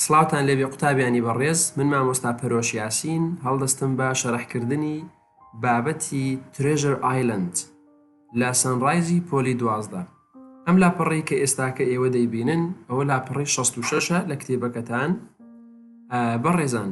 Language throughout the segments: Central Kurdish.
سڵاوتان لێبێ قوتابیانی بەڕێز من مامۆستا پەرۆش یاسین هەڵدەستم بە شەرحکردنی بابەتی ترێژر ئایلند لە سەنڕایزی پۆلی دوازدە ئەم لاپەڕی کە ئێستاکە ئێوە دەیبینن ئەوە لاپەڕی 66ە لە کتێبەکەتان بەڕێزان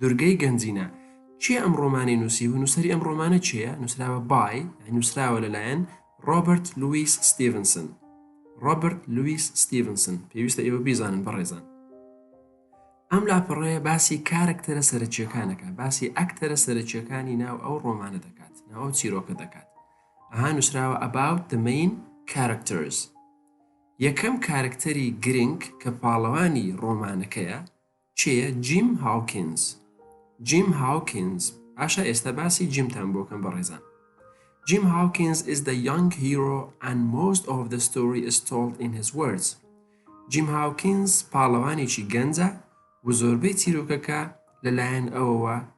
دورگەی گەنجینە کێ ئەم ڕۆمانەی نووسی و نووسری ئەم ڕۆمانە چێە نووسراوە بای نووسراوە لەلایەن ڕۆبرت لوئیس ستیڤنسن ڕۆبرت لوئیس ستیڤنسن پێویستە ئێوە بیزانن بەڕێزان ئەم لاپەڕەیە باسی کارکتەرە سەرچیەکانەکە باسی ئەکتەرە سەرچیەکانی ناو ئەو ڕۆمانە دەکات ناو چیرۆکە دەکات ئەها نووسراوە ئەباوت دەمەین کارکتەرز یەکەم کارکتەری گرنگ کە پاڵەوانی ڕۆمانەکەیە کێیە جیم هاوکینز؟ جیم هاوکینز باشە ئێستا باسی جیمتان بۆ کەم بەڕێزان Jim Hawkins is the young hero and most of the story is told in his words. جیم هاوکینز پاڵەوانێکی گەنجە و زۆربەی چیرۆکەکە لەلایەن ئەوەوە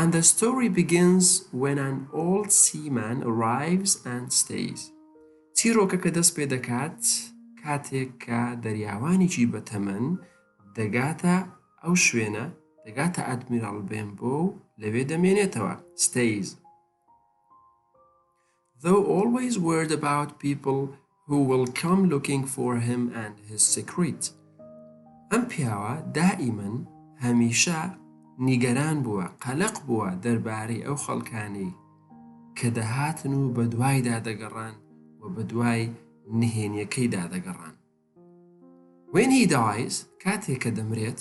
And the story begins when an old seaman arrives and stays چیرۆکەکە دەست پێ دەکات کاتێک کە دەریاوانێکی بەتەمەن دەگاتە ئەو شوێنە دەگاتە ئەدمیراڵ بێن بۆ و لەوێ دەمێنێتەوە ستەیز Thou always worried about people who will come looking for him and his secret ئەم پیاوە دائیمەن هەمیشە نیگەران بووە قەلەق بووە دەربارەی ئەو خەڵکانەی کە دەهاتن و بەدوایدا دەگەڕان و بەدوای نهێنیەکەیدا دەگەڕان When he dies کاتێک کە دەمرێت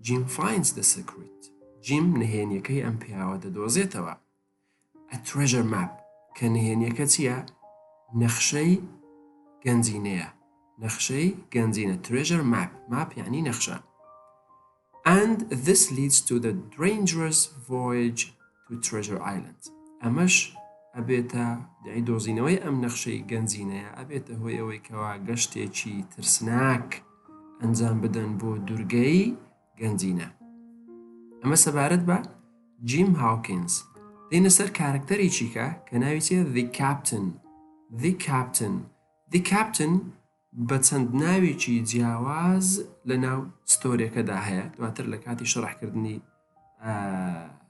Jim finds the secret جیم نهێنیەکەی ئەم پیاوە دەدۆزێتەوە A Treasure Map، کە نهێنییەکە چییە؟ نەخشەی گەنجینەیە. نەخشەی گەنجینە Treasure Map، ماپ یعنی نەخشە. And this leads to the dangerous voyage to Treasure Island. ئەمەش ئەبێتە دەی دۆزینەوەی ئەم نەخشەی گەنجینەیە ئەبێتە هۆی ئەوەی کەوا گەشتێکی ترسناک ئەنجام بدەن بۆ دوورگەی گەنجینە. ئەمە سەبارەت بە جیم هاوکینز. دێینە سەر کارەکتەرێکیکە کە ناوی چیە The Captain The Captain The Captain بە چەند ناوێکی جیاواز لە ناو ستۆریەکەدا هەیە دواتر لە کاتی شەڕحکردنی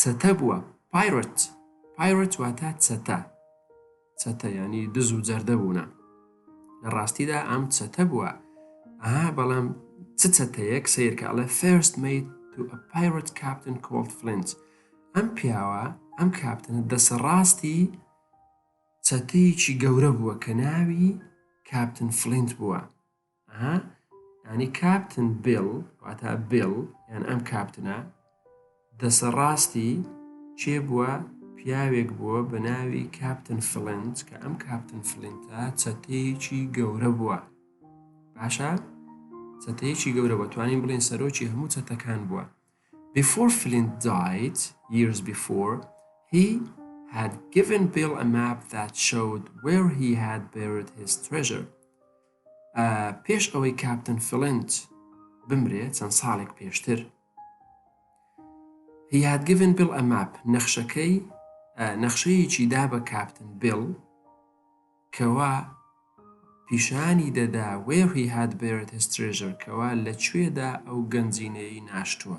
چەتە بووە Pirate Pirate واتە چەتە چەتە یعنی دز و جەردە بوونە لە ڕاستیدا ئەم چەتە بووە ئەها بەڵام چ چەتەیەک سیرکە ئەڵێ فێرست میت تو ئە Pirate Captain Cold Flint ئەم پیاوە ئەم کاپتنە دەسە ڕاستی چەتەیەکی گەورە بووە کە ناوی کاپتن فلینت بووە ئەها یانی کاپتن بێڵ واتا بێڵ یان ئەم کاپتنە دەسە ڕاستی چێ بووە پیاوێک بووە بە ناوی کاپتن فلنت کە ئەم کاپتن فلنتە چەتەیەکی گەورە بووە باشە چەتەیەکی گەورە بە توانین بڵێن سەرۆکی هەموو چەتەکان بووە before Flint died years before he had given Bill a map that showed where he had buried his treasure پێش ئەوەی کاپتن فلنت بمرێ چەند ساڵێک پێشتر هیادگڤن بڵ ئەماپ نەخشەکەی نەخشەیەکی دا بە کاپتن بڵ کەوا پیشانی دەدا وێڕی هاات بێرت هسترێژەر کەوا لە کوێدا ئەو گەنجینەی ناشتووە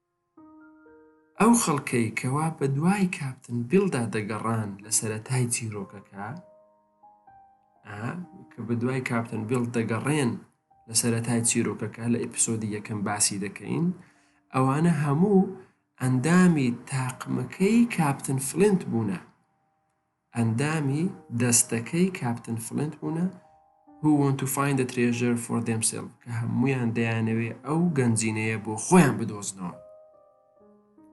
ئەو خەڵکەی کەوا بەدوای کاپتن بیڵدا دەگەڕان لە سەرەتای چیرۆکەکە کە بەدوای کاپتن بیڵ دەگەڕێن لە سەرەتای چیرۆکەکە لە ئیپسۆدی یەکەم باسی دەکەین ئەوانە هەموو ئەندامی تاقمەکەی کاپتن فلنت بوونە ئەندامی دەستەکەی کاپتن فلینت بوونە Who want to find the treasure for themselves کە هەموویان دەیانەوێ ئەو گەنجینەیە بۆ خۆیان بدۆزنەوە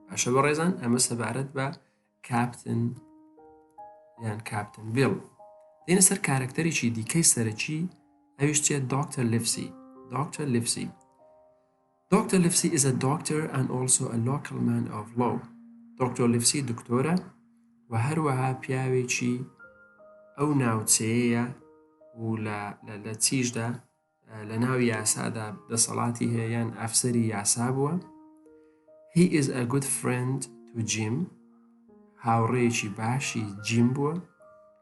باشە بە ڕێزان ئەمە سەبارەت بە کاپتن یان کاپتن بیڵ دێنە سەر کارەکتەرێکی دیکەی سەرەکی ئەویش چێت دکتەر لفسی دکتەر لفسی Doctor Livesey is a doctor and also a local man of law. دکتۆر لیفسی دکتۆرە و هەروەها پیاوێکی ئەو ناوچەیەیە و لە چیشدا لە ناو یاسادا دەسەڵاتی هەیە یان ئەفسەری یاسا بووە هی ئز ئە گوت فرند تو جیم هاوڕێکی باشی جیم بووە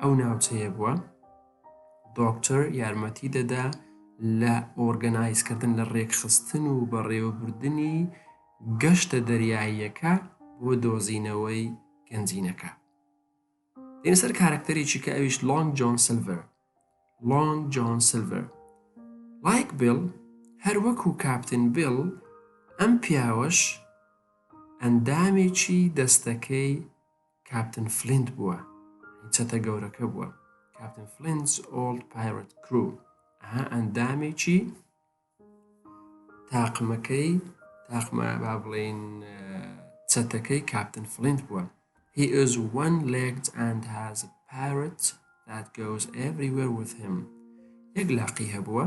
ئەو ناوچەیە بووە دۆکتەر یارمەتی دەدا لە ئۆرگەنایزکردن لە ڕێکخستن و بەڕێوەبردنی گەشتە دەریاییەکە بۆ دۆزینەوەی گەنجینەکە دێنسەر کارکتەرێکی کە ئەویش لۆنگ جۆن سلڤەر لۆنگ جۆن سلڤەر لایک بل هەر وەکو کاپتن بل ئەم پیاوەش ئەندامێکی دەستەکەی کاپتن فلینت بووە هی چەتە گەورەکە بووە کاپتن فلینز ئۆڵد پایرەت کرو ئەها ئەندامێکی تاقمەکەی تاقمە با بڵێین چەتەکەی کاپتن فلینت بووە He is one-legged and has a parrot that goes everywhere with him یەک لاقی هەبووە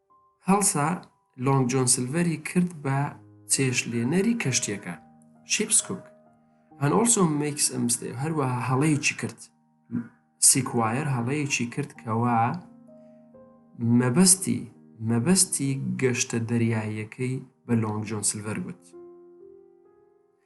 هەڵسا لۆنگ جۆن سلڤەری کرد بە چێشتلێنەری کەشتیەکە، Ship's Cook and also makes a mistake هەروەها هەڵەیەکی کرد سیکوایەر هەڵەیەکی کرد کەوا مەبەستی مەبەستی گەشتە دەریاییەکەی بە لۆنگ جۆن سلڤەر گوت.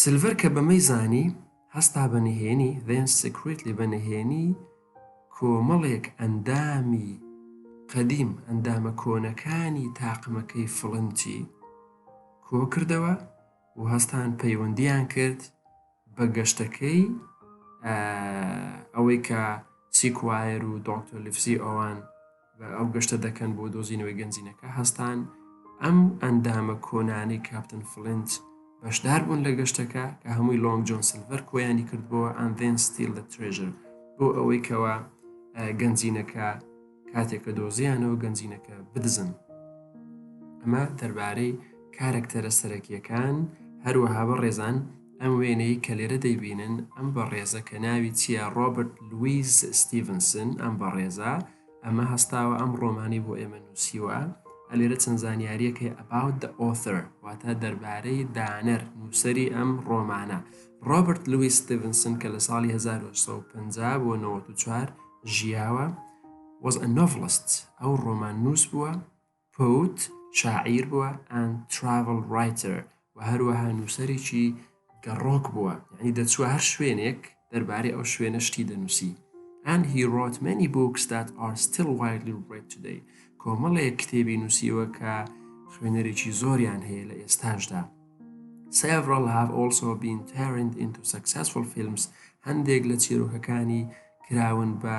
سلڤەر کە بەمەی زانی، هەستا بە نهێنی، then secretly، بە نهێنی کۆمەڵێک ئەندامی قەدیم، ئەندامە کۆنەکانی تاقمەکەی فڵنچی کۆکردەوە و هەستان پەیوەندیان کرد بە گەشتەکەی ئەوەی کە سیکوایەر و دۆکتۆر لیڤسی ئۆوان ئەو گەشتە دەکەن بۆ دۆزینەوەی گەنجینەکە هەستان ئەم ئەندامە کۆنانەی کاپتن فلنج بەشدار بوون لە گەشتەکە کە هەمووی لۆنگ جۆن سلڤەر کۆیانی کردبووە ئەندێن ستیل لە ترێژر بۆ ئەوەی کەوا گەنجینەکە کاتێکە دۆزیانەوە گەنجینەکە بدزن ئەمە دەربارەی کارەکتەرە سەرەکیەکان هەروەها بە ڕێزان ئەم وێنەی کە لێرە دەیبینن ئەم بەڕێزە کە ناوی چییە ڕۆبرت لویس ستیڤنسن ئەم بەڕێزە ئەمە هەستاوە ئەم ڕۆمانی بۆ ئێمە نووسیوە ئەلێرە چەند زانیاریەک هەیە about the author واتە دەربارەی دانەر نووسری ئەم ڕۆمانە ڕۆبرت لویس ستیڤنسن کە لە ساڵی 1950 بۆ 94 ژیاوە was a novelist ئەو ڕۆمان نووس بووە پوت شاعیر بووە and travel writer و هەروەها نووسەرێکی گەڕۆک بووە یعنی دەچووە هەر شوێنێک دەربارەی ئەو شوێنە شتی دەنووسی and he wrote many books that are still widely read today کۆمەڵێک کتێبی نووسیوە کە خوێنەرێکی زۆریان هەیە لە ئێستاشدا Several have also been turned into successful films هەندێک لە چیرۆکەکانی کراون بە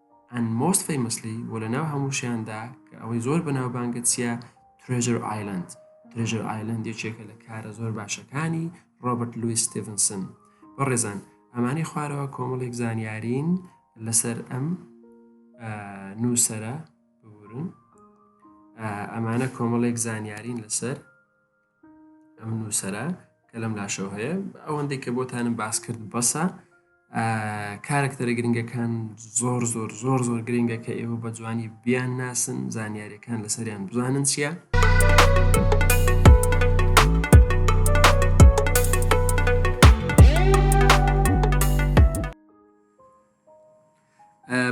and most famously و لە ناو هەمووشیاندا کە ئەوەی زۆر بەناوبانگە چییە ترێژر ئایلند ترێژر ئایلند یەکێکە لە کارە زۆر باشەکانی ڕۆبرت لویس ستیڤنسن بە ڕێزان ئەمانی خوارەوە کۆمەڵێک زانیارین لەسەر ئەم نووسرە بورن ئەمانە کۆمەڵێک زانیارین لەسەر ئەم نووسرە کە لەم لاشەوە هەیە ئەوەندەی کە بۆتانم باس کرد بەسە کارکتەرە گرنگەکان زۆر زۆر زۆر زۆر گرنگە کە ئێوە بە جوانی بیان ناسن زانیاریەکان لەسەریان بزانن چییە؟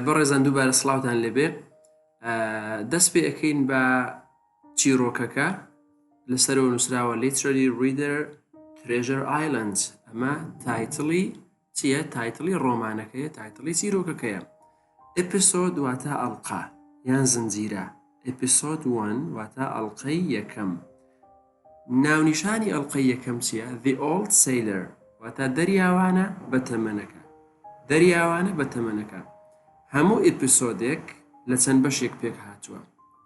بەڕێزان دووبارە سلااوان لەبێ دەست پێ ئەەکەین بە چیڕۆکەکە لەسەرەوە نووسراوە لیترەری ڕیدەر ترێژەر ئایلند ئەمە تایتڵی چییە تایتڵی ڕۆمانەکەیە تایتڵی چیرۆکەکەیە ئەپسۆد واتە ئەڵقا یان زنجیرە ئەپسۆد وان واتە ئەڵلقەی یەکەم ناونیشانی ئەڵلقەی یەکەم چییە The Old Sailor واتە دەریاوانە بە تەمەنەکە دەریاوانە بە تەمەنەکە هەموو ئیپسۆدێک لە چەند بەشێک پێک هاتووە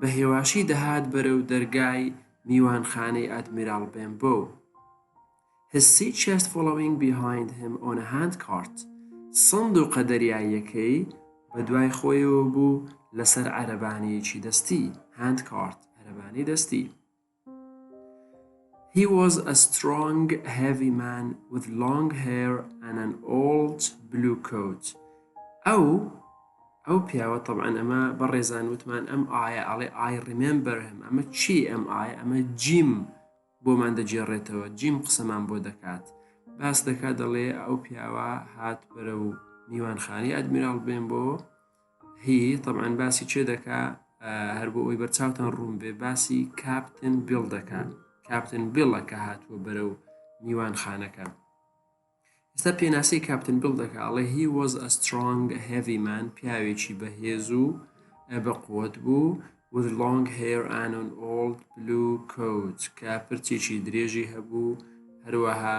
بە هێواشی دەهات بەرەو دەرگای میوانخانەی ئادمیراڵ بێمبۆ و His sea chest following behind him on a handcart سندوقە دەریاییەکەی بە دوای خۆیەوە بوو لەسەر عەرەبانەیەکی دەستی Handcart عەرەبانەی دەستی He was a strong, heavy man with long hair and an old blue coat. ئەو ئەو پیاوە طبعا ئەمە بەڕێزان وتمان ئەم ئایا ئەڵێ I remember him ئەمە چی ئەم ئایا ئەمە جیم بۆمان دەگێڕێتەوە جیم قسەمان بۆ دەکات باس دەکات دەڵێ ئەو پیاوە هات بەرە و میوانخانی ئەدمیراڵ بێن بۆ هی طبعا باسی چێ دەکا هەر بۆ ئەوی بەرچاوتان ڕوون بێ باسی کاپتن بیڵ دەکات کاپتن بیڵە کە هاتووە بەرە و میوان خانەکە ئستا پێناسی کاپتن بیڵ دەکە ئەڵێ هی وەز ئە سترۆنگ هێڤیمان پیاوێکی بەهێز و بە قوت بوو with long hair and an old blue coat کە پرچێکی درێژی هەبوو هەروەها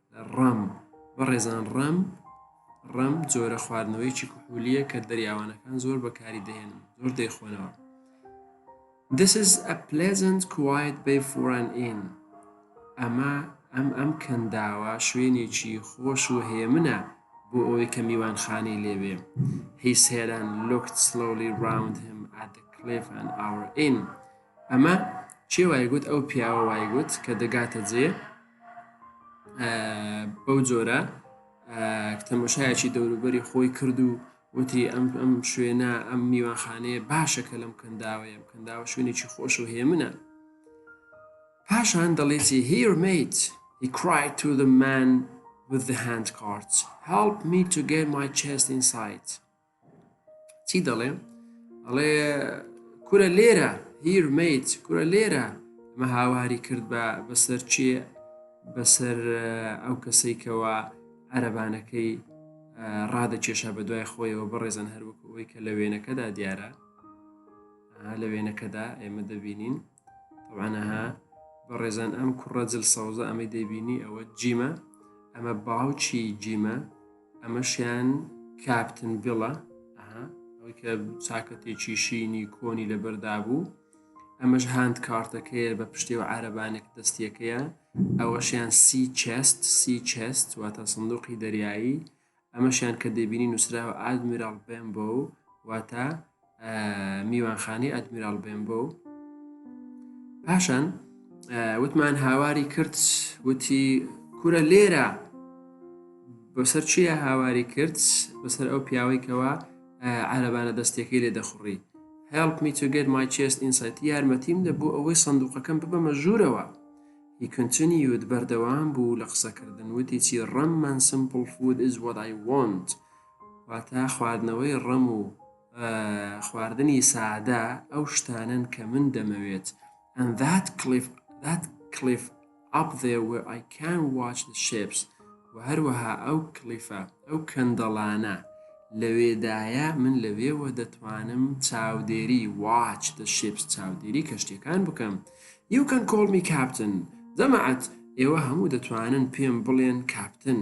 ڕەم، بەڕێزان ڕەم، ڕەم جۆرە خواردنەوەیەکی کحولیە کە دەریاوانەکان زۆر بەکاری دەهێنن زۆر دەیخۆنەوە. This is a pleasant quiet bay for an inn. ئەمە ئەم ئەم کەنداوە شوێنێکی خۆش و هێمنە بۆ ئەوەی کە میوانخانەی لێبێ هی سێران لوکت سلۆلی راوند هەم ئادە کلێف ئەن ئاور ئین ئەمە چێ وایگوت ئەو پیاوە وایگوت کە دەگاتە جێ بەو جۆرە تەمەشایەکی دەوروبەری خۆی کرد و وتی ئەم ئەم شوێنە ئەم میوانخانەیە باشە کە لەم کەنداوەیە کەنداوە شوێنێکی خۆش و هێمنە پاشان دەڵێتی هیرمیت He cried to the man with the hand cards help me to get my chest inside چی دەڵێ ئەڵێ کورە لێرە هیر میت کورە لێرە مە هاواری کرد بە بەسەر چێ بەسەر ئەو کەسەی کەەوە عەرەبانەکەی ڕادەکێشا بە دوای خۆیەوە بەڕێزن هەروەکو ئەوی کە لە وێنەکەدا دیارە لە وێنەکەدا ئێمە دەبینین وانەها بە ڕێزان ئەم کوڕە جل سەوزە ئەمەی دەبینی ئەوە جیمە ئەمە باوچی جیمە ئەمەشیان کاپتن بڵە ئەوەی کە چاکەتێکی شینی کۆنی لەبەردا بوو ئەمەش هاند کارتەکەیە بە پشتێ و عربانێک دەستیەکەیە ئەوەشیان سی چست سی چست واتە سندوقی دەریایی ئەمەشیان کە دەبینی نووسراوە ئادمیرال بمبۆ واتە میوانخانەی ئەدمیرال بێنبۆ پاشان وتمان هاواری کرد وتی کورە لێرە بەسەر چیە هاواری کرد بەسەر ئەو پیاوەی کەەوە عەربانە دەستێکی لێ دەخڕی help me to get my chest inside یارمەتیم دە بۆ ئەوەی سندوقەکەم ببەمە ژوورەوە هی کنتنیود بەردەوام بوو لە قسەکردن وتی چی ڕەممان سمپل فود is what I want واتە خواردنەوەی ڕم و خواردنی سادە ئەو شتانن کە من دەمەوێت and that cliff that cliff up there where I can watch the ships و هەروەها ئەو کلیفە ئەو کەندەڵانە لەوێدایە من لەوێوە دەتوانم چاودێری watch the ships چاودێری کەشتەکان بکەم you can call me captain دەمەعەت ئێوە هەموو دەتوانن پێم بڵێن کاپتن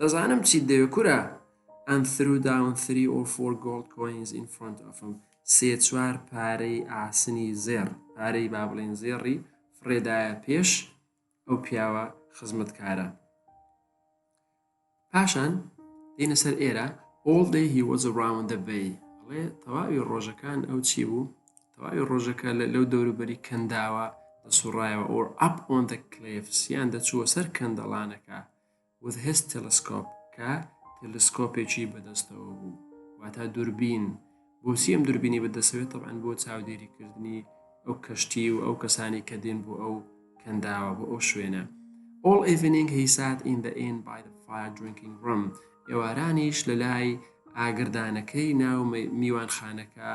دەزانم چیت دەوێ کورە ئەم ثرو داون ثری ئۆر فۆر گۆڵد کۆینز ئین فرۆنت ئەفم سێ چوار پارەی ئاسنی زێڕ پارەی با بڵێن زێڕی فڕێدایە پێش ئەو پیاوە خزمەتکارە پاشان دینە سەر ئێرە all day he was around the bay ئەڵێ تەواوی ڕۆژەکان ئەو چی بوو تەواوی ڕۆژەکە لەو دەوروبەری کەنداوە دەسوڕایەوە ئۆر ئەپ ئۆن دە کلێفسیان دەچووە سەر کەندەڵانەکە with his telescope کە تەلسکۆپێکی بەدەستەوە بوو واتا دوربین بۆچی ئەم دوربینی بەدەسەوێت طبعاان بۆ چاودێریکردنی ئەو کەشتی و ئەو کەسانی کە دێن بۆ ئەو کەنداوە بۆ ئەو شوێنە all evening he sat in the inn by the fire drinking room ئێوارانیش لە لای ئاگردانەکەی ناو میوانخانەکە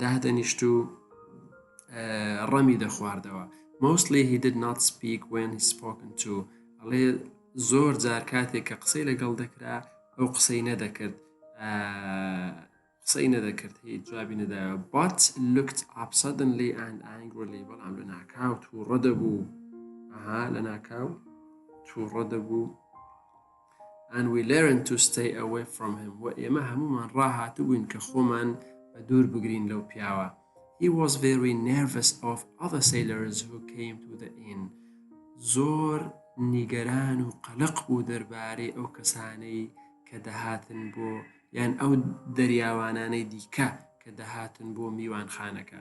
دادەنیشت و ڕەمی دەخواردەوە مۆسلی هی دد نات سپیک وێن سپۆکن تو ئەڵێ زۆر جار کاتێک کە قسەی لەگەڵ دەکرا ئەو قسەی نەدەکرد قسەی نەدەکرد هی جوابی نەدا بات لوکت ئاپسەدنلی ئەند ئەنگلی بەڵام لە ناکاو تووڕە دەبوو ئەها لە ناکاو تووڕە دەبوو and we learned to stay away from him و ئێمە هەمومان ڕاهاتبووین کە خۆمان بە دوور بگرین لەو پیاوە he was very nervous of other sailors who came to the inn زۆر نیگەران و قەلق بوو دەربارەی ئەو کەسانەی کە دەهاتن بۆ یان ئەو دەریاوانانەی دیکە کە دەهاتن بۆ میوانخانەکە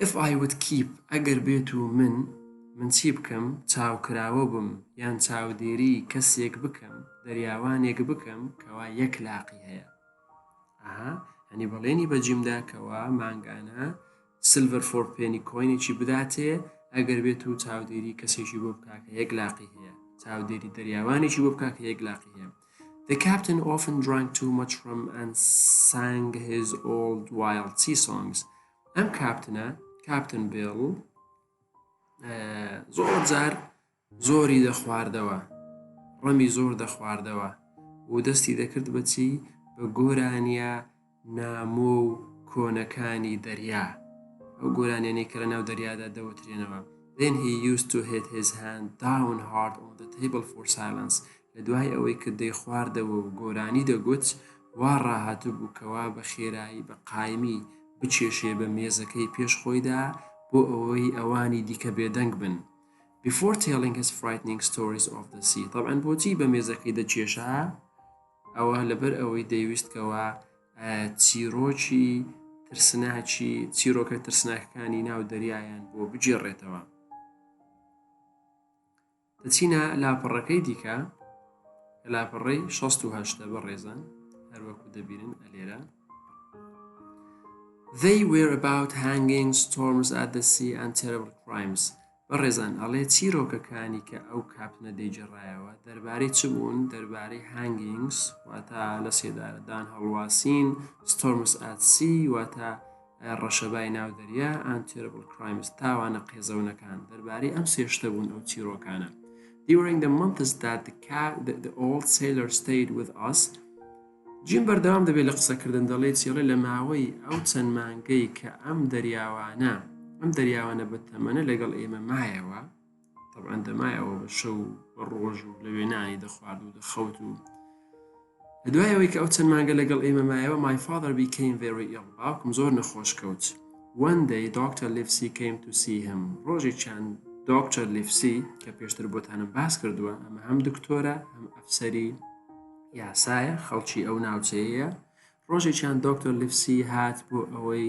If I would keep ئەگەر بێتو من من چی بکەم چاوکراوە بم یان چاودێری کەسێک بکەم دەریاوانێک بکەم کەوا یەک لاقی هەیە ئەها هەنی بەڵێنی بە جیمدا کەوا مانگانە سلڤەر فۆر پێنی کۆینێکی بداتێ ئەگەر بێت و چاودێری کەسێکی بۆ بکاکە یەک لاقی هەیە چاودێری دەریاوانێکی بۆ بکاکە یەک لاقی هەیە The captain often drank too much rum and sang his old wild sea songs. ئەم کاپتنە کاپتن بێڵ زۆر جار زۆری دەخواردەوە ڕەمی زۆر دەخواردەوە و دەستی دەکرد بەچی بە گۆرانیە نامۆ و کۆنەکانی دەریا ئەو گۆرانیانەی کە لە ناو دەریادا دەوترێنەوە Then he used to hit his hand down hard on the table for silence لە دوای ئەوەی کە دەیخواردەوە و گۆرانی دەگوت، وا ڕاهاتبوو کەوا بە خێرایی بە قایمی بچێشێ بە مێزەکەی پێش خۆیدا بۆ ئەوەی ئەوانی دیکە بێدەنگ بن Before telling his frightening stories of the sea تەبعەن بۆچی بە مێزەکەی دەچێشا؟ ئەوە لەبەر ئەوەی دەیویست کەوا چیرۆکی ترسناکی چیرۆکە ترسناکەکانی ناو دەریایان بۆ بگێڕێتەوە. دەچینە لاپەڕەکەی دیکە کە لاپەڕەی 16 بە ڕێزان هەروەکو دەبینن ئەلێرە They were about hanging storms at the sea and terrible crimes بە ڕێزان ئەڵێ چیرۆکەکانی کە ئەو کاپنە دەیجێڕایەوە دەربارەی چ بوون دەربارەی هەنگینگس واتە لە سێدارەدان هەڵواسین ستۆرمس ئاسی واتە ڕەشەبای ناو دەریا ئەنتێربل کرایمز تاوانە قێزەونەکان دەربارەی ئەم سێ شتە بوون ئەو چیرۆکانە During the months that the, cat, the, the old sailor stayed with us جیم بەردەوام دەبێت لە قسەکردن دەڵێت چێڵێ لە ماوەی ئەو چەند مانگەی کە ئەم دەریاوانە ئەم دەریاوانە بە تەمەنە لەگەڵ ئێمە مایەوە تەبعەن دەمایەوە بە شەو و بە ڕۆژ و لە وێنانی دەخوارد و دەخەوت و لە دوایەوەی کە ئەو چەند مانگە لەگەڵ ئێمە مایەوە my father became very ill باوکم زۆر نەخۆش کەوت one day Dr. Livesey came to see him ڕۆژێکیان دکتۆر لیفسی کە پێشتر بۆتانم باس کردووە ئەمە هەم دکتۆرە هەم ئەفسەری یاسایە خەڵکی ئەو ناوچەیە ڕۆژێکیان دکتۆر لیفسی هات بۆ ئەوەی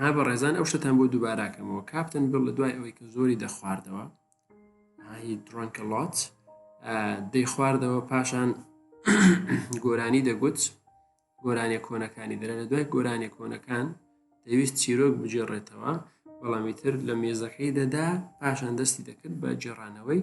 ها بەڕێزان ئەو شتتان بۆ دووباراکەمەوە کاپتن بڵ لە دوای ئەوەی کە زۆری دەخواردەوە هی درۆنکە لات دەیخواردەوە پاشان گۆرانی دەگوت گۆرانیە کۆنەکانی دەرە لە دوای گۆرانیە کۆنەکان دەویست چیرۆک بجێڕێتەوە بەڵامی تر لە مێزەکەی دەدا پاشان دەستی دەکرد بە جێڕانەوەی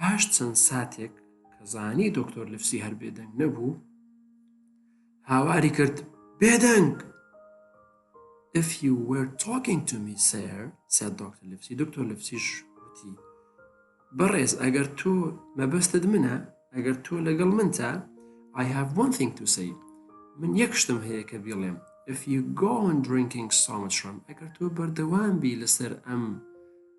پاش چەند ساتێک کە زانی دکتۆر لفسی هەر بێدەنگ نەبوو هاواری کرد بێدەنگ If you were talking to me sir said Dr. لفسی دکتۆر لفسیش وتی بەڕێز ئەگەر تۆ مەبەستت منە ئەگەر تۆ لەگەڵ من تا I have one thing to say من یەک شتم هەیە کە بیڵێم if you go on drinking so much rum ئەگەر تۆ بەردەوام بی لەسەر ئەم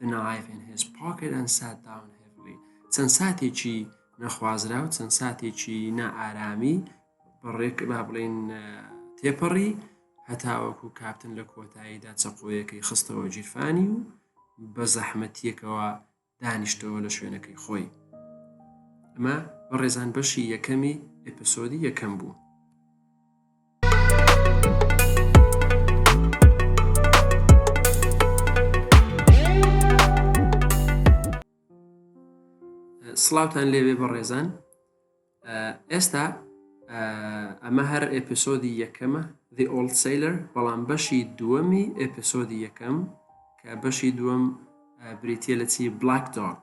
The knife in his pocket and sat down heavily چەند ساتێکی نەخوازرا و چەند ساتێکی نائارامی بەڕێک با بڵین تێپەڕی هەتاوەکو کاپتن لە کۆتاییدا چەقۆیەکەی خستەوە جیرفانی و بە زەحمەتیەکەوە دانیشتەوە لە شوێنەکەی خۆی ئەمە بەڕێزان بەشی یەکەمی ئەپسۆدی یەکەم بوو سڵاوان لێوێ بەڕێزان ئێستا ئەمە هەر ئەپسۆدی یەکەمە The Old Sailor بەڵام بەشی دووەمی ئەپسۆدی یەکەم کە بەشی دووەم بریتە لە چی بلاک دۆک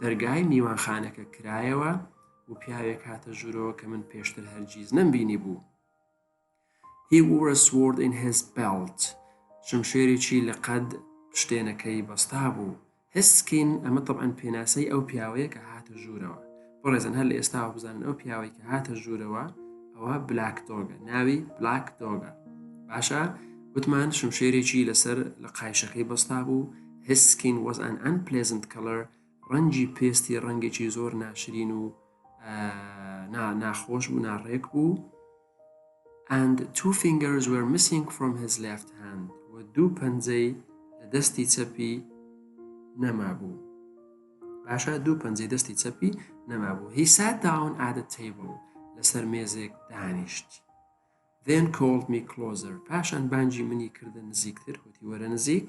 دەرگای میوانخانەکە کرایەوە و پیاوێک هاتە ژوورەوە کە من پێشتر هەرگیز نەمبینی بوو هی وورە سوۆرد in his belt شمشێرێکی لە قەد شتێنەکەی بەستا بوو هسکین ئەمە طبعاً پێناسەی ئەو پیاوەیە کە هاتە ژوورەوە بەڕێزان هەر لە ئێستاوە بزانن ئەو پیاوەی کە هاتە ژوورەوە ئەوە بلاک دۆگە ناوی بلاک دۆگە باشە وتمان شمشێرێکی لەسەر لە قایشەکەی بەستا بوو هسکین وەز ئەن ئەن پلزنت کەلەر ڕەنجی پێستی ڕەنگێکی زۆر ناشرین و ناخۆش بوو ناڕێک بوو and two fingers were missing from his left hand و دوو پەنجەی لە دەستی چەپی نەمابوو باشە دوو پەنجەی دەستی چەپی نەمابوو هی سات داون ئادە تەیبڵ لەسەر مێزێک دانیشت then called me closer پاشان بانجی منی کردە نزیکتر وتی وەرە نزیک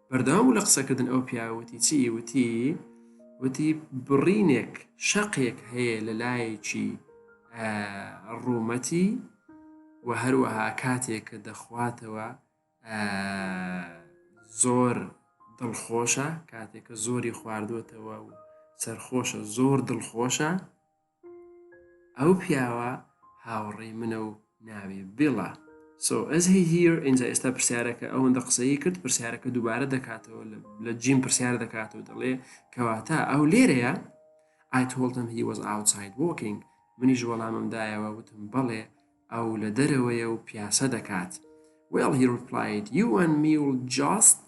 بەردەوام بوو لە قسەکردن ئەو پیاوە وتی چی وتی وتی بڕینێک شەقێک هەیە لە لایەکی ڕوومەتی و هەروەها کاتێک کە دەخواتەوە زۆر دڵخۆشە کاتێکە زۆری خواردوێتەوە و سەرخۆشە زۆر دڵخۆشە ئەو پیاوە هاوڕێی منە و ناوی بیڵە سۆ ئەز هی هیر ئینجا ئێستا پرسیارەکە ئەوەندە قسەی کرد پرسیارەکە دووبارە دەکاتەوە لە جیم پرسیار دەکاتەوە دەڵێ کەواتە ئەو لێرەیە I told him he was outside walking منیش وەڵامم دایەوە وتم بەڵێ ئەو لە دەرەوەیە و پیاسە دەکات Well he replied you and me will just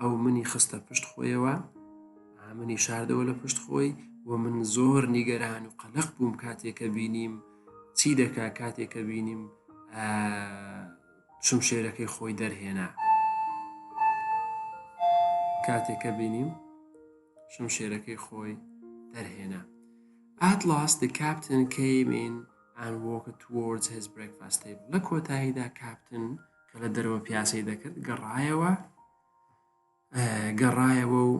ئەو منی خستە پشت خۆیەوە منی شاردەوە لە پشت خۆی و من زۆر نیگەران و قەلق بووم کاتێکە بینیم چی دەکا کاتێکە بینیم شم شێرەکەی خۆی دەرهێنا کاتێکە بینیم شم شێرەکەی خۆی دەرهێنا ئاتلاس the captain came in and walked towards his breakfast table لە کۆتاییدا کاپتن کە لە دەرەوە پیاسەی دەکرد گەڕایەوە گەڕایەوە و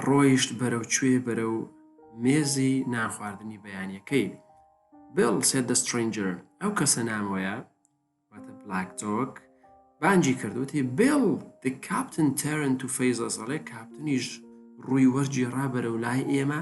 ڕۆیشت بەرەو کوێ بەرە و مێزی نانخواردنی بەیانەکەی بڵ سێ دە سترنجر ئەو کەسە نامۆیە واتە بلاک تۆک بانجی کردوتی بڵ the captain تەرن تو فەیزەڵێ کاپتنیش ڕووی وەرجی ڕابەرە و لای ئێمە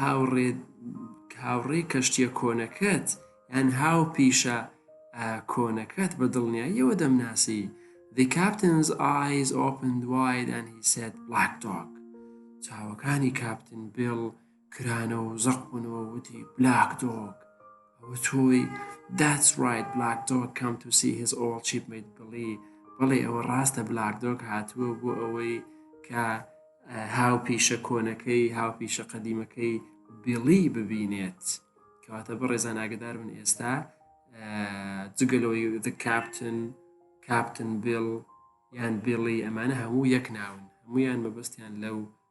هاوڕێ هاوڕێی کەشتیە کۆنەکەت یان هاو پیشە کۆنەکەت بە دڵنیاییەوە دەمناسی The captain's eyes opened wide and he said black dog چاوەکانی کاپتن بێڵ کرانەوە و زەق بوونەوە وتی بلاک دۆک ئەوە تۆی That's right Black Dog come to see his old shipmate Billy بەڵێ ئەوە ڕاستە بلاک دۆک هاتووە بۆ ئەوەی کە هاو پیشە کۆنەکەی هاو پیشە قەدیمەکەی بیڵی ببینێت کەواتە بە ڕێزان ئاگدار من ئێستا جگەلۆی the کاپتن کاپتن بیل یان بیڵی ئەمانە هەموو یەک ناون هەمویان مەبەستیان لەو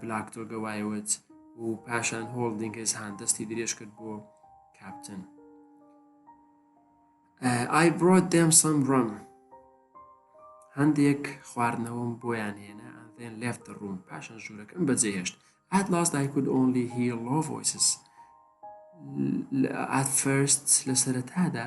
بلاک تۆگە وایوت و پاشان هۆڵدینگز هان دەستی درێژ کرد بۆ کاپتن ئای برۆ دێم سم ڕم هەندێک خواردنەوەم بۆیان هێنا ئەندێن لێفت ڕوون پاشان ژوورەکەم بەجێ هێشت ئات لاست دایکود ئۆنلی هی لۆ ڤۆیسس ئات فرست لە سەرەتادا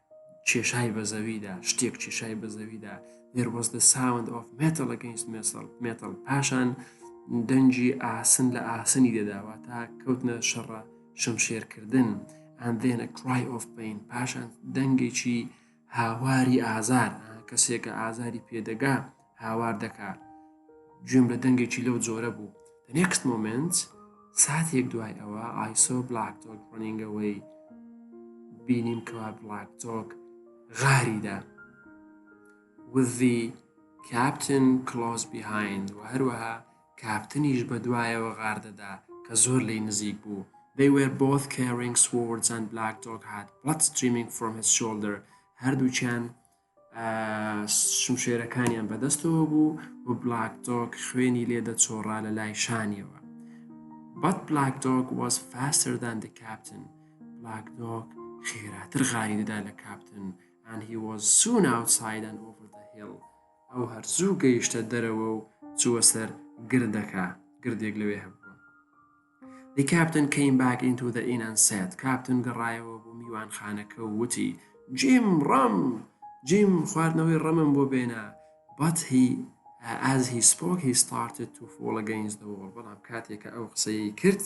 کێشای بە زەویدا شتێک کێشای بە زەویدا دەروەزدە ساوند ئۆف مێتەڵە گەنج مێسەڵ مێتەڵ پاشان دەنجی ئاسن لە ئاسنی دەداوە تا کەوتنە شەڕە شمشێرکردن ئەندێنە کرای ئۆف بین پاشان دەنگێکی هاواری ئازار کەسێکە ئازاری پێدەگا هاوار دەکا گوێم لە دەنگێکی لەو جۆرە بوو The next moment ساتێک دوای ئەوە ئایسۆ بلاک تۆک ڕۆنینگەوەی بینیم کەوا بلاک تۆک غاریدا وذی کاپتن کلۆز بیهایند و هەروەها کاپتنیش بە دوایەوە غاردەدا کە زۆر لی نزیک بوو They were both carrying swords and Black Dog had blood streaming from his shoulder هەردووچیان شمشێرەکانیان بەدەستەوە بوو و بلاک دۆک خوێنی لێ دەچۆڕا لە لای شانیەوە بەت بلاک دۆک واز فاستردان دی کاپتن بلاک دۆک خێراتر غاری دەدا لە کاپتن and he was soon outside and over the hill ئەو هەرزوو گەیشتە دەرەوە و چووە سەر گردەکە گردێک لەوێ هەبوو The captain came back into the inn and said کاپتن گەڕایەوە بۆ میوانخانەکە و وتی جیم ڕەم جیم خواردنەوەی ڕەمم بۆ بێنە but he as he spoke he started to fall against the wall بەڵام کاتێکە ئەو قسەی کرد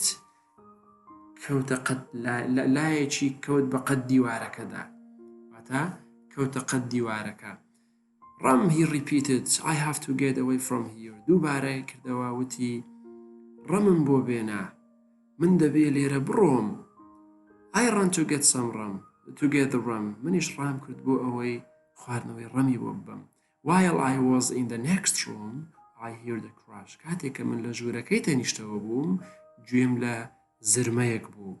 کەوتە قەت لایەکی کەوت بە قەت دیوارەکەدا واتا کەوتە قەت دیوارەکە ڕم هی ڕیپیتد ئای هاف تو گێت ئەوەی فرۆم هیۆر دووبارە کردەوە وتی ڕمم بۆ بێنە من دەبێ لێرە بڕۆم ئای ڕەن تو گێت سەم ڕم تو گێت ڕم منیش ڕام کرد بۆ ئەوەی خواردنەوەی ڕەمی بۆ ببم وایڵ ئای وەز ئین دە نێکست ڕۆم ئای هیر دە کراش کاتێک کە من لە ژوورەکەی تەنیشتەوە بووم گوێم لە زرمەیەک بوو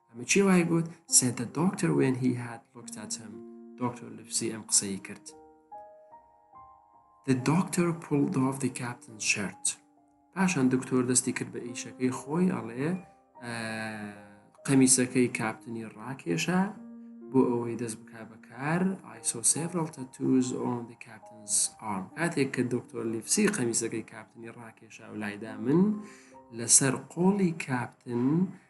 ئەمە کێ وای گوت سێد دە دۆکتەر وێن هی هات لۆکتاتم دۆکتەر لفسی ئەم قسەی کرد The doctor pulled off the captain's shirt پاشان دکتۆر دەستی کرد بە ئیشەکەی خۆی ئەڵێ قەمیسەکەی کاپتنی ڕاکێشە بۆ ئەوەی دەست بکە بەکار ئایسۆ سێڤڕڵ تەتوز ئۆن دی کاپتنز ئارم کاتێک کە دکتۆر لیفسی قەمیسەکەی کاپتنی ڕاکێشا و لایدا من لەسەر قۆڵی کاپتن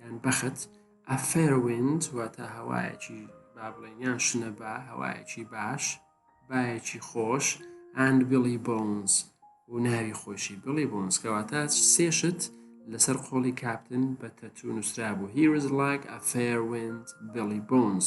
یان بەخت A fair wind واتە هەوایەکی با بڵێن یان شنە با هەوایەکی باش بایەکی خۆش and Billy Bones و ناوی خۆشی بڵی بۆنس کەواتە سێشت لەسەر قۆڵی کاپتن بە تەتو نووسرا بوو هیرز لاک ئە فێروند بڵی بۆنس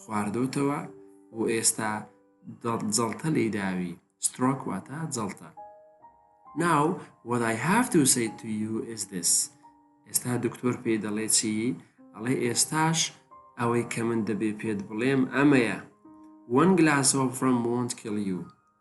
خواردۆتەوە و ئێستا جەڵتە لێی داوی سترۆک واتە جەڵتە ناو what I have to say to you is this ئێستا دکتۆر پێی دەڵێ چی ئەڵێ ئێستاش ئەوەی کە من دەبێ پێت بڵێم ئەمەیە one glass of rum won't kill you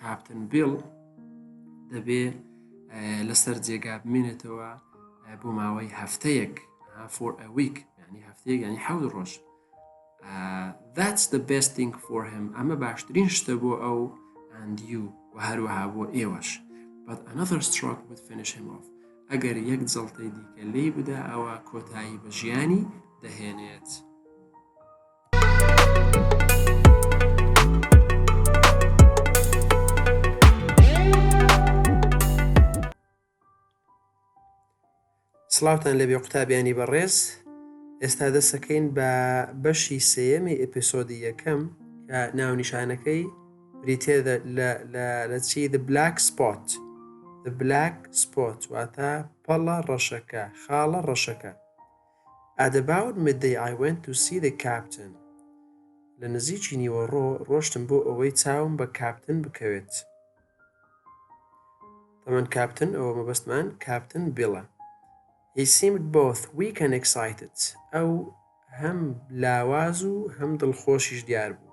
کاپتن بیڵ دەبێ لەسەر جێگا بمێنێتەوە بۆ ماوەی هەفتەیەک فۆر ئەویک ینی هەفتەیەک ینی حەود ڕۆژ that's the best thing for him ئەمە باشترین شتە بۆ ئەو and you و هەروەها بۆ ئێوەش but another stroke would finish him off ئەگەر یەک جڵتەی دیکە لی بدا ئەوە کۆتایی بە ژیانی دەهێنێت. سڵاوتان لەبێ قوتابیانی بەڕێز ئێستا دەسەکەین بە بەشی سێەمی ئەپسۆدی یەکەم کە ناونیشانەکەی بریتێ لە چی the black spot the black spot واتە پەڵە ڕەشەکە خاڵە ڕەشەکە At about midday I went to see the captain لە نزیکی نیوەڕۆ ڕۆشتم بۆ ئەوەی چاوم بە کاپتن بکەوێت تەمەن کاپتن ئەوە مەبەستمان کاپتن بیڵە He seemed both weak and excited ئەو هەم لاواز و هەم دڵخۆشیش دیار بوو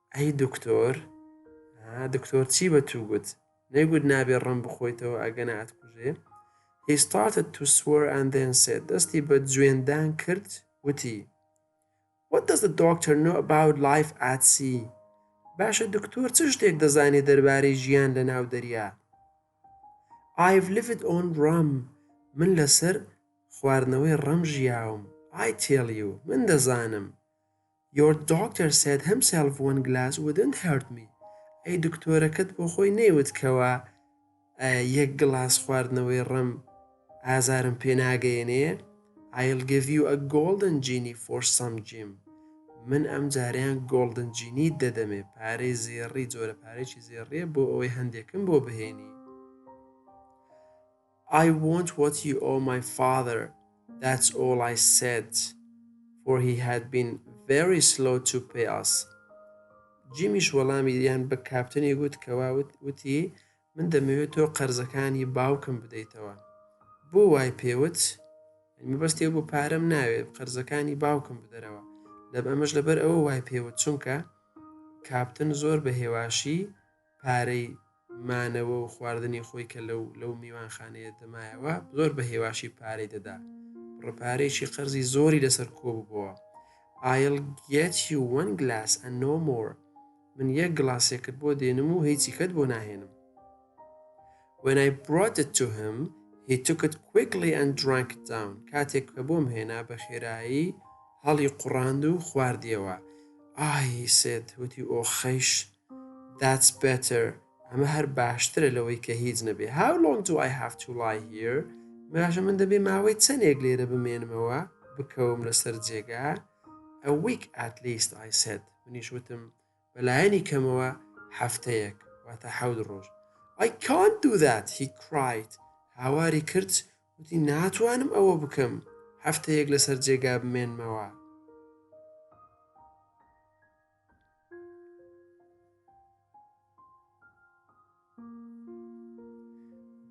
ئەی دکتۆر دکتۆر چی بە تو گوت نەیگوت نابێ ڕم بخۆیتەوە ئەگەنا ئەتکوژێ He started to swear and then said دەستی بە جوێندان کرد وتی What does the doctor know about life at sea؟ باشە دکتۆر چ شتێک دەزانێت دەربارەی ژیان لە ناو دەریا I've lived on rum من لەسەر خواردنەوەی ڕەم ژیاوم I tell you من دەزانم Your doctor said himself one glass wouldn't hurt me ئەی دکتۆرەکەت بۆ خۆی نەیوت کەوا یەک گڵاس خواردنەوەی ڕم ئازارم پێناگەیەنێ I'll give you a golden genie for some gym من ئەم جاریان گۆڵدن جینی دەدەمێ پارەی زێڕی جۆرە پارێکی زێڕیە بۆ ئەوەی هەندێکم بۆ بهێنی I want what you owe my father That's all I said For he had been very slow to pay us جیمیش وەڵامی یان بە کاپتنی گوت کەوا وتی من دەمەوێت تۆ قەرزەکانی باوکم بدەیتەوە بۆ وای پێوت مەبەستێ بۆ پارەم ناوێت قەرزەکانی باوکم بدەرەوە لە ئەمەش لەبەر ئەوە وای پێوت چونکە کاپتن زۆر بە هێواشی پارەی مانەوە و خواردنی خۆی کە لەو لەو میوانخانەیە دەمایەوە زۆر بە هێواشی پارەی دەدا ڕپارێکی قەرزی زۆری لەسەر کۆببووە ئایل گێت یو وەن گلاس ئە نۆ مۆر من یەک گڵاسێکت بۆ دێنم و هیچی کەت بۆ ناهێنم When I brought it to him, he took it quickly and drank it down. کاتێک کە بۆم هێنا بە خێرایی هەڵی قڕاند و خواردیەوە. ئای سێت وتی ئۆخەیش That's better ئەمە هەر باشترە لەوەی کە هیچ نەبێ How long do I have to lie here؟ مێژە من دەبێ ماوەی چەندێک لێرە بمێنمەوە بکەوم لەسەر جێگا A week at least I said منیش وتم بەلایەنی کەمەوە هەفتەیەک واتە حەود ڕۆژ I can't do that he cried هاواری کرد وتی ناتوانم ئەوە بکەم هەفتەیەک لەسەر جێگا بمێنمەوە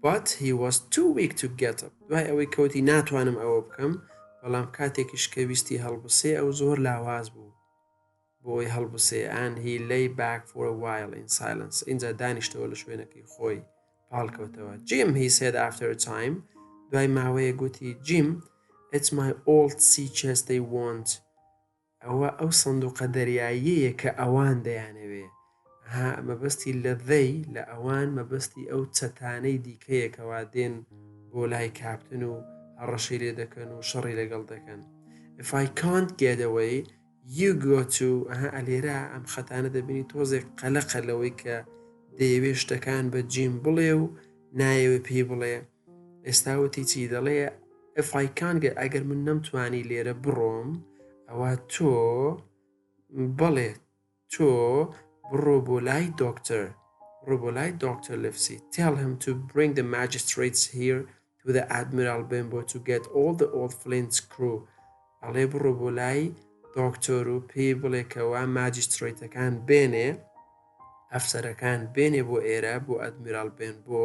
But he was too weak to get up دوای ئەوەی کەوتی ناتوانم ئەوە بکەم بەڵام کاتێکیش کە ویستی هەڵبسێ ئەو زۆر لاواز بوو بۆی هەڵبسێ ئەن هی لی باک فۆر وایل ئین سایلنس اینجا دانیشتەوە لە شوێنەکەی خۆی پاڵکەوتەوە جیم هی سێد ئافتەر تایم دوای ماوەیە گوتی جیم It's my old sea chest they want ئەوە ئەو سندوقە دەریاییەیە کە ئەوان دەیانەوێ. ئەها مەبەستی لە They لە ئەوان مەبەستی ئەو چەتانەی دیکەیە کەوا دێن بۆ لای کاپتن و هەڕەشەی لێ دەکەن و شەڕی لەگەڵ دەکەن. If I can't get away you go to ئەها ئەلێرا ئەم خەتانە دەبینی تۆزێک قەلەقە لەوەی کە دەیەوێ شتەکان بە جیم بڵێ و نایەوێ پێی بڵێ. ئێستا وتی چی دەڵێ ئەفای کانگە ئەگەر من نەمتوانی لێرە بڕۆم ئەوە تۆ بەڵێ تۆ بڕۆ بۆ لای دۆکتەر ڕۆ بۆ لای دۆکتەر لفسی tell him to bring the magistrates here to the admiral bimbo to get all the old flint crew ئەڵێ بڕۆ بۆ لای دۆکتۆر و پێی بڵێکەوە ماجسترۆیتەکان بێنێ ئەفسەرەکان بێنێ بۆ ئێرە بۆ ئەدمیرال بێن بۆ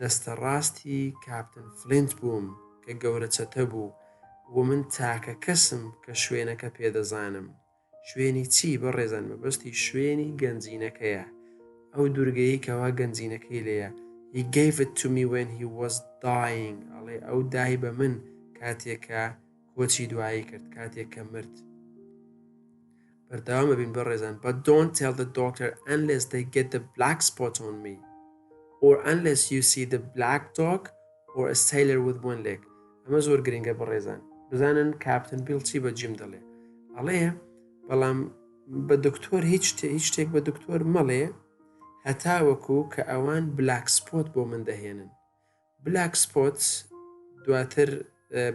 دەستە ڕاستی کاپتن فلینت بووم کە گەورە چەتە بوو و من تاکە کەسم کە شوێنەکە پێ دەزانم. شوێنی چی بەڕێزان مەبەستی شوێنی گەنجینەکەیە ئەو دورگەیەی کەوا گەنجینەکەی لێیە He gave it to me when he was dying ئەڵێ ئەو دای بە من کاتێک کە کۆچی دوایی کرد کاتێک کە مرد. بەردەوام ئەبین بەڕێزان but don't tell the doctor unless they get the black spot on me or unless you see the black dog or a sailor with one leg ئەمە زۆر گرنگە بەڕێزان بزانن کاپتن بیڵ چی بە جیم دەڵێ ئەڵێ بەڵام بە دکتۆر هیچ هیچ شتێک بە دکتۆر مەڵێ هەتا وەکو کە ئەوان بلاک سپۆت بۆ من دەهێنن بلاک سپۆت دواتر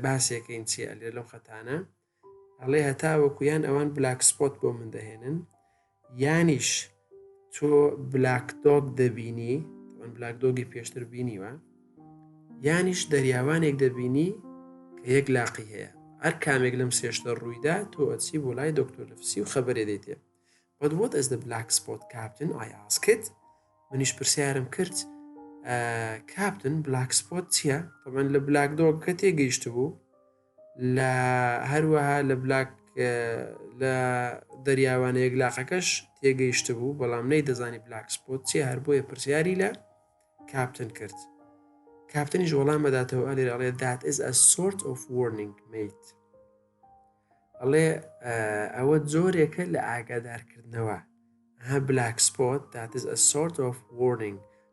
باسێکەین چی ئەلێ لەو خەتانە ئەڵێ هەتاوەکو یان ئەوان بلاک سپۆت بۆ من دەهێنن یانیش تۆ بلاک دۆک دەبینی ئەن بلاک دۆگی پێشتر بینیوە یانیش دەریاوانێک دەبینی کە یەک لاقی هەیە هەر کامێک لەم سێشتە ڕوویدا تۆ ئەچی بۆ لای دکتۆر لەفسی و خەبەرێ دەیتێ But what is the black spot captain I asked منیش پرسیارم کرد کاپتن بلاک سپۆت چییە؟ تەمەن لە بلاک دۆک کە تێگەیشت بوو لە هەروەها لە بلاک لە دەریاوانە یەکلاقەکەش تێگەیشت بوو بەڵام نەی دەزانی بلاک سپۆت چێ هەر بۆیە پرسیاری لە کاپتن کرد کاپتنیش وەڵام بەداتەوە ئەلێر ئەڵێ دات ئز ئە سۆرت ئۆف وەرنینگ میت ئەڵێ ئەوە جۆرێکە لە ئاگادارکردنەوە ها بلاک سپۆت دات ئز ئە سۆرت ئۆف وەرنینگ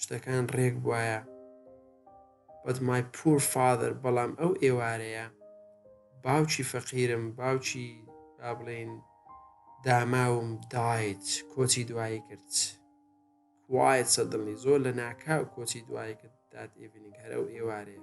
شتەکان ڕێک بواە بەت مای پور فادر بەڵام ئەو ئێوارەیە باوکی فەقیرم باوکی با بڵێن داماوم دایت کۆچی دوایی کرد وایە سەدڵنی زۆر لە ناکاو کۆچی دوایی کرد دات ئێڤنینگ هەرە و ئێوارەیە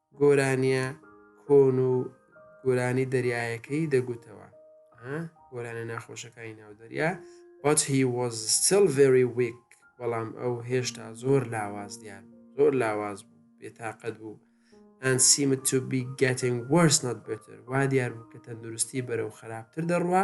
گۆرانیە کۆن و گۆرانی دەریایەکەی دەگوتەوە گۆرانە ناخۆشەکانی ناو دەریا but he was still very weak بەڵام ئەو هێشتا زۆر لاواز دیار زۆر لاواز بوو بێتاقەت بوو and seemed to be getting worse not better وا دیار بوو کە تەندروستی بەرەو خراپتر دەڕوا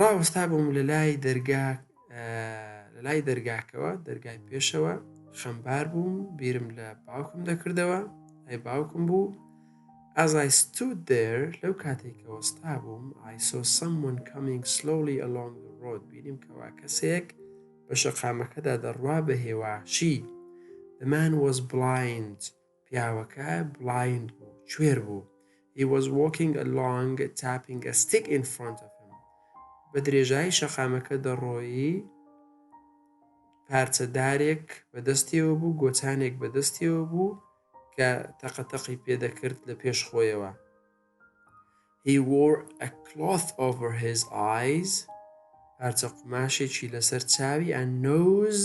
ڕاوەستابووم لە لای دەرگا لە لای دەرگاکەوە دەرگای پێشەوە خەمبار بووم بیرم لە باوکم دەکردەوە ئەی باوکم بوو As I stood there لەو کاتێک کە وەستا بووم I saw someone coming slowly along the road بینیم کەوا کەسێک بە شەقامەکەدا دەڕوا بە هێواشی The man was blind پیاوەکە بڵایند بوو کوێر بوو He was walking along tapping a stick in front of him بە درێژایی شەقامەکە دەڕۆیی پارچەدارێک بە دەستیەوە بوو گۆچانێک بە دەستیەوە بوو کە تەقەتەقی پێدەکرد لە پێش خۆیەوە He wore a cloth over his eyes پارچە قوماشێکی لەسەر چاوی and nose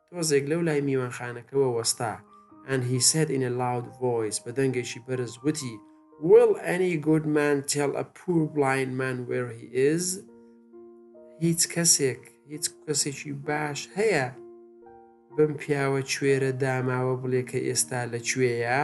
تۆزێک لەو لای میوانخانەکەوە وەستا and he said in a loud voice بە دەنگێکی بەرز وتی Will any good man tell a poor blind man where he is؟ هیچ کەسێک هیچ کەسێکی باش هەیە بم پیاوە کوێرە داماوە بڵێ کە ئێستا لە کوێیە؟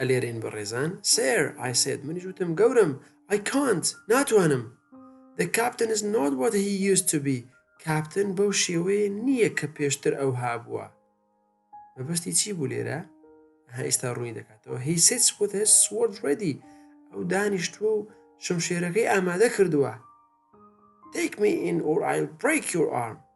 ئەلێرێن بەڕێزان سێر ئای سێت منیش وتم گەورم ئای کانت ناتوانم The captain is not what he used to be کاپتن بەو شێوەیە نییە کە پێشتر ئەو هابووە مەبەستی چی بوو لێرە ها ئێستا ڕووی دەکاتەوە هی سێت with his sword ready ئەو دانیشتووە و شمشێرەکەی ئامادە کردووە Take me in or I'll break your arm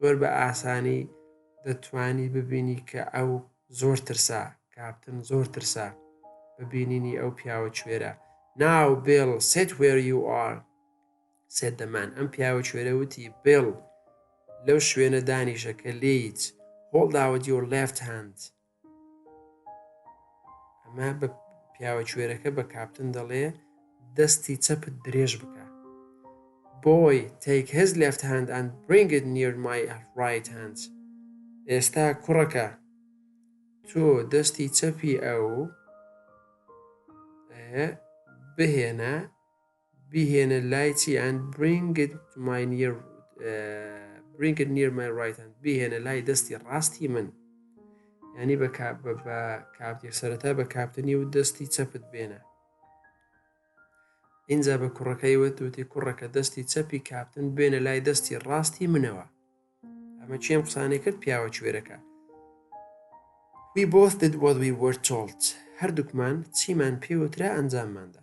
زۆر بە ئاسانی دەتوانی ببینی کە ئەو زۆر ترسا کاپتن زۆر ترسا بە بینینی ئەو پیاوە کوێرە ناو بێڵ سێت وێر یو ئار سێت دەمان ئەم پیاوە کوێرە وتی بێڵ لەو شوێنە دانیشە کە لێیت هۆڵداوە دیۆر لێفت هەند ئەمە بە پیاوە کوێرەکە بە کاپتن دەڵێ دەستی چەپت درێژ بکە بۆی تێک هێز لەفت هاند ئەند برنگت نیر مای ڕایت هاند ئێستا کوڕەکە تۆ دەستی چەپی ئەو بهێنە بیهێنە لای چی and bring it to my near bring it near my right hand بیهێنە لای دەستی ڕاستی من ینی بە کاپتی سەرەتا بە کاپتنی و دەستی چەپت بێنە ئینجا بە کوڕەکەی وت وتی کوڕەکە دەستی چەپی کاپتن بێنە لای دەستی ڕاستی منەوە ئەمە چێم قسانەی کرد پیاوە کوێرەکە We both did what we were told هەردووکمان چیمان پێوترا ئەنجامماندا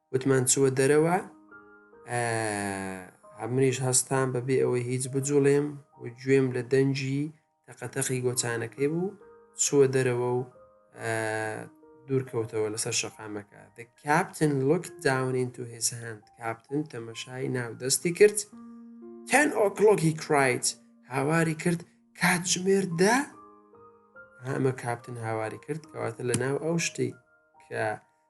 وتمان چوە دەرەوە ئەمریش هەستان بەبێ ئەوەی هیچ بجوڵێم و گوێم لە دەنجی تەقەتەقی گۆچانەکەی بوو چوە دەرەوە و دوورکەوتەوە لەسەر شەقامەکە دە کاپتن لوک داونین تو هێز هەند کاپتن تەمەشای ناو دەستی کرد تەن ئۆکلۆکی کرایت هاواری کرد کات ژمێر دە هەمە کاپتن هاواری کرد کەواتە لە ناو ئەو شتی کە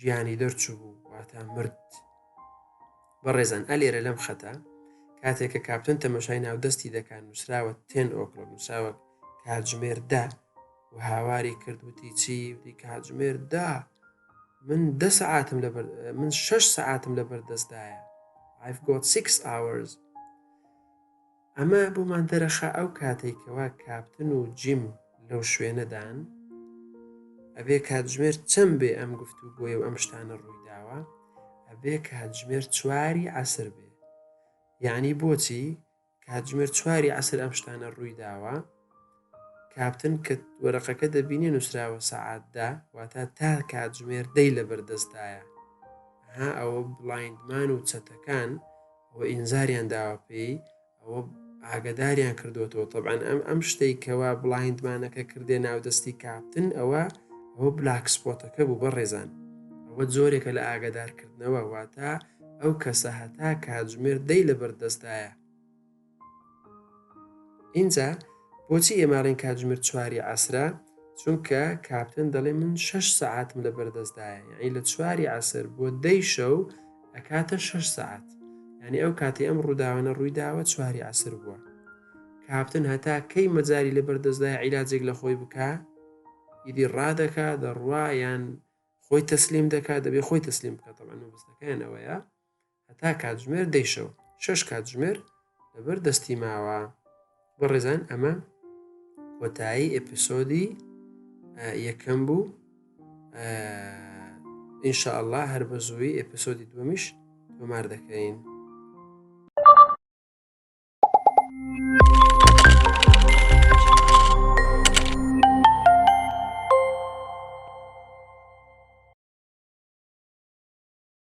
گیانی دەرچوو بوو واتا مرد بەڕێزان ئەلێرە لەم خەتە کاتێک کە کاپتن تەمەشای ناو دەستی دەکات نووسراوە تێن ئۆکلۆ نووسراوە کاتژمێر دا و هاواری کردوتی چی وتی کاتژمێر دا من دە سعاتم لە من شش سعاتم لە بەردەستدایە I've got six hours ئەمە بۆمان دەرەخا ئەو کاتەی کەوا کاپتن و جیم لەو شوێنەدان، ئەبێ کاتژمێر چەند بێ ئەم گفتوگۆیە و ئەم شتانە ڕوویداوە، ئەبێ کاتژمێر چواری عەسر بێ. یانی بۆچی کاتژمێر چواری عەسر ئەم شتانە ڕوویداوە، کاپتن کت، وەرەقەکە دەبینێ نووسراوە سەعات دە، واتە تا کاتژمێر دەی لەبەر دەستدایە. ئەها ئەوە بڵایندمان و چەتەکان ئەوە ئینزاریان داوە پێی، ئەوە ئاگەداریان کردووەتەوە. تەبعەن ئەم ئەم شتەی کەوا بڵایندمانەکە کردێ ناودەستی کاپتن ئەوە ئەوە بلاک سپۆتەکە بوو بەڕێزان. ئەوە جۆرێکە لە ئاگەدارکردنەوە، واتە ئەو کەسە هەتا کاتژمێر دەی لەبەر دەستدایە. ئینجا بۆچی ئێماڵین کاتژمێر چواری عسرە چونکە کاپتن دەڵێ من شش سعاتم لە بەردەستدایە یعنی لە چواری عسر بۆ دەی شەو ئەکاتە شش سعات یعنی ئەو کاتی ئەم ڕووداوانە ڕوویداوە چواری عسر بووە کاپتن هەتا کەی مەجاری لە بەردەستدای عیلاجێک لە خۆی بکە ئیدی ڕادەکە دەڕوا یان خۆی تەسلیم دەکات دەبێ خۆی تەسلیم بکات تەبەن مەبستەکەیان ئەوەیە هەتا کاتژمێر دەی شەو شەش کاتژمێر لەبەر دەستی ماوە بەڕێزان ئەمە کۆتایی ئەپسۆدی یەکەم بوو ئینشاءله هەر بە زووی ئەپسۆدی دومیش تۆمار دەکەین.